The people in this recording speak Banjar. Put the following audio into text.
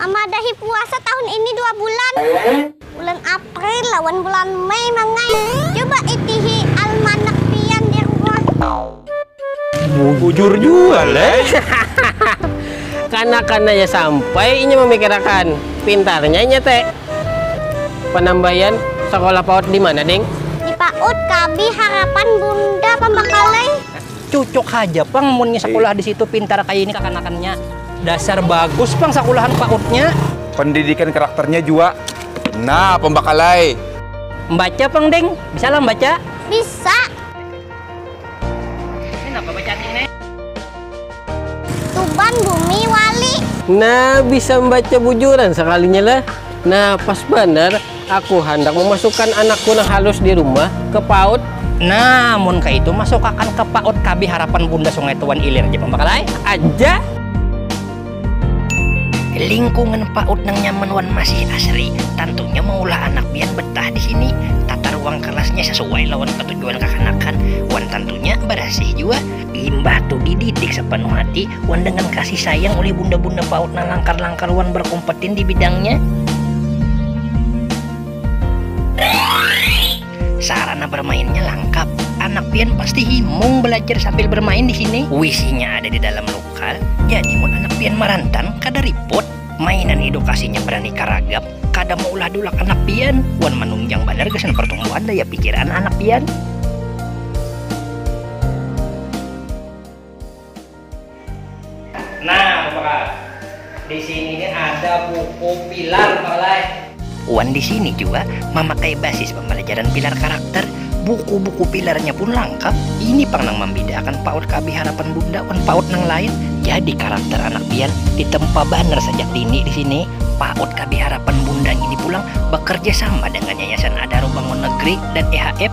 Mamadahi puasa tahun ini dua bulan, bulan April lawan bulan Mei mang ai. Coba itihi almanak pian di rumah. Bujur jua leh. Kanakananya sampai inya mamikirakan, pintarnya inya te. Panambayan sakolah paut dimana ding? Di paut KB Harapan Bunda Pambakalai. Cucuk haja pang munnya sakulah di situ pintar kaya ini kakanakannya. Dasar bagus pang sakulahan pautnya. Pendidikan karakternya jua nah pambakal ai. Mbaca pang ding, bisalah mbaca? Bisa. Ini napa bacaan ini? Tuban bumi wali. Nah bisa mbaca bujuran sakalinya lah. Nah pas banar. Aku handak mamasukan anakku nang halus di rumah ke paut. Nah, mun kaitu masukakan ke paut kabi harapan bunda sungai tu wan ilir ja pambakal ai. Aja. Lingkungan paut nang nyaman wan masih asri tantunya maulah anak pian betah di sini. Tata ruang kelasnya sasuai lawan ketujuan kakanakan wan tantunya barasih jua. Imbah tu dididik sapanuh hati wan dangan kasih sayang ulih bunda-bunda paut nang langkar-langkar wan berkompetin di bidangnya. Sarana bermainnya langkap, anak pian pasti himung belajar sambil bermain di sini. Wisinya ada di dalam lokal, jadi mun anak pian marantan kada ripot. Mainan edukasinya beraneka ragam, kada maulah dulak anak pian wan manunjang banar gasan pertumbuhan daya pikir anak-anak pian. Nah, Bapak. Di sini ini ada buku pilar, Bapak. Wan di sini jua mamakai basis pambalajaran pilar karakter, buku-buku pilarnya pun langkap, ini pang nang mambidaakan PAUD KB Harapan Bunda wan PAUD nang lain, jadi karakter anak pian ditempa banar sajak dini di sini, PAUD KB Harapan Bunda ngini pulang bakarjasama dengan Yayasan Adaro Bangun Negeri dan EHF